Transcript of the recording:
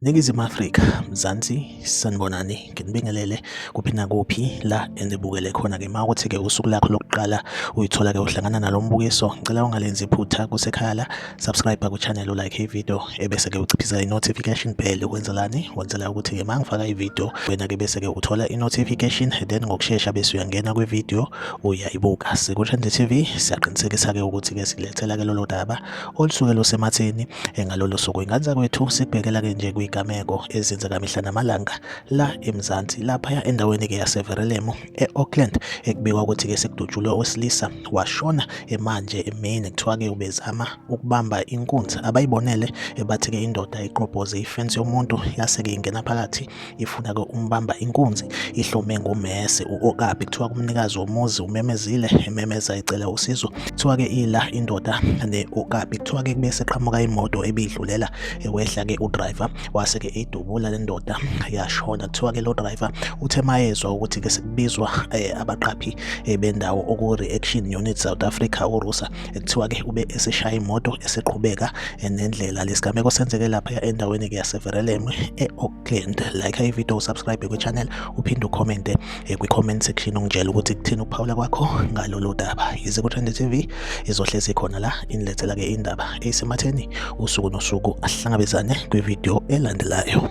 Ningizimu Afrika, Mzansi, sanibonani, nginibingelele kuphi nakuphi la enibukele khona ke ma ukuthi ke usuku lakho lokuqala uyithola ke uhlangana nalo mbukiso, ngicela ungalenzi iphutha kusekhaya la subscribe ku channel u like video ebese ke uciphisa i notification bell ukwenzelani wenzela ukuthi ke mangifaka i video wena ke bese ke uthola i notification then ngokusheshsha bese uyangena kwi video uyayibuka siku Trend TV siyaqinisekisa ke ukuthi ke silethela ke lolo daba olusuke losematheni engalolo suku inganza kwethu sikubhekela ke nje kwigameko ezenzeka mihla namalanga la eMzansi lapha endaweni ke yaseVerelemo e-Auckland ekubikwa ukuthi-ke sekudutshulwe owesilisa washona emanje emini kuthiwa-ke ubezama ukubamba inkunzi abayibonele ebathi-ke indoda iqobhoze ifensi yomuntu yase-ke ingena phakathi ifuna-ke umbamba inkunzi ihlome ngomese u-okabi kuthiwa kumnikazi womuzi umemezile ememeza ecela usizo kuthiwa-ke ila indoda ne-okabi kuthiwa-ke kube seqhamuka imoto ebidlulela ewehla-ke udriver wase ke idubula le ndoda yashona kuthiwa ke lo driver uthe mayezwa ukuthi ke sekubizwa eh, abaqaphi eh, bendawo oku reaction unit South Africa uRusa kuthiwa ke ube eseshaya imoto eseqhubeka eh, nendlela lesigameko senzeke lapha endaweni ke yaseVerelem eAuckland like i video subscribe ku channel uphinde ucommente eh, kwi-comment section ungitshela ukuthi kuthini ukuphawula kwakho ngalolu daba yize ku-trend tv izohlezi khona la inilethela-ke indaba eyisematheni usuku nosuku ahlangabezane kwividiyo elandelayo